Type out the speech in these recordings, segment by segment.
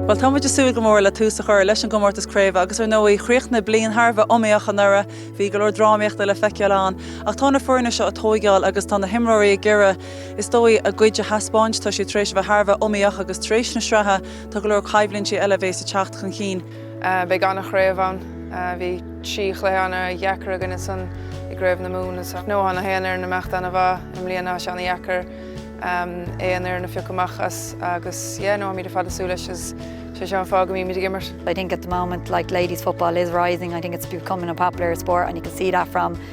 Bhuel, táimid ag súil go mór le tús a chur leis an gcomórtas craoibhe agus ar ndóigh, chríochnaigh bliain thar a bheith iomaíoch anuraidh. Bhí go leor drámaíochta le feiceáil ann. Ach tá na foirne seo ag tóigeáil agus tá na himreoirí ag iarraidh, is dóigh, a gcuid a thaispeáint. Tá sé tar éis a bheith thar a bheith iomaíoch agus tar éis na sraithe, tá go leor coimhlintí eile a bheas ag teacht chun cinn. Beidh ana chraobh ann. Bhí trí chluiche ana dheacair againn ansan i gcraobh na Mumhan agus no tá an traenáil ag imeacht ana mhaith i mbliana so tá sé ana dheacair aon fhoireann a phiocadh amach as agus yeah no táimid ar fad ag súil leis agus sé seo an fáth go mbímíd ag imirt. I think at the moment like ladies football is rising I think it's becoming a popular sport and you can see that from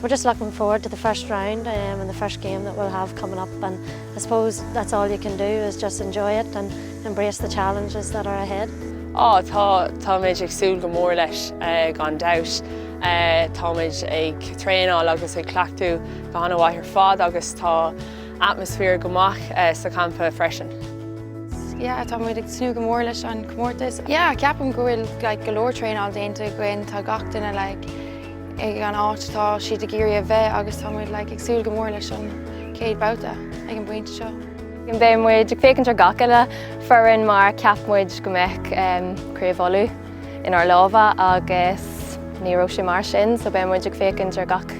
We're just looking forward to the first round and the first game that we'll have coming up and I suppose that's all you can do is just enjoy it and embrace the challenges that are ahead. Á, tá, táimid ag súil go mór leis, gan dabht. Táimid ag traenáil agus ag cleachtadh go han-mhaith ar fad agus tá atmaisféar go maith sa champa freisin. Yeah, táimid ag tnúth go mór leis an gcomórtas. Yeah, ceapaim go bhfuil like go leor traenáil déanta againn, tá gach duine like, ag an áit atá siad ag iarraidh a bheith agus tá muid like ag súil go mór leis an chéad babhta ag an bpointe seo. Beidh muid ag féachaint ar gach uile foireann mar cheap muid go mbeadh Craobh Uladh inár lámha agus ní raibh sé mar sin so beidh muid ag féachaint ar gach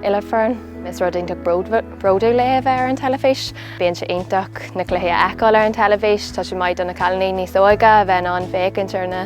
uile foireann. Is rud iontach bródúil le bheith ar an teilifís. Bíonn sé iontach na cluichí a fheiceáil ar an teilifís. Tá sé maith do na cailíní níos óige a bheith in ann féachaint ar na.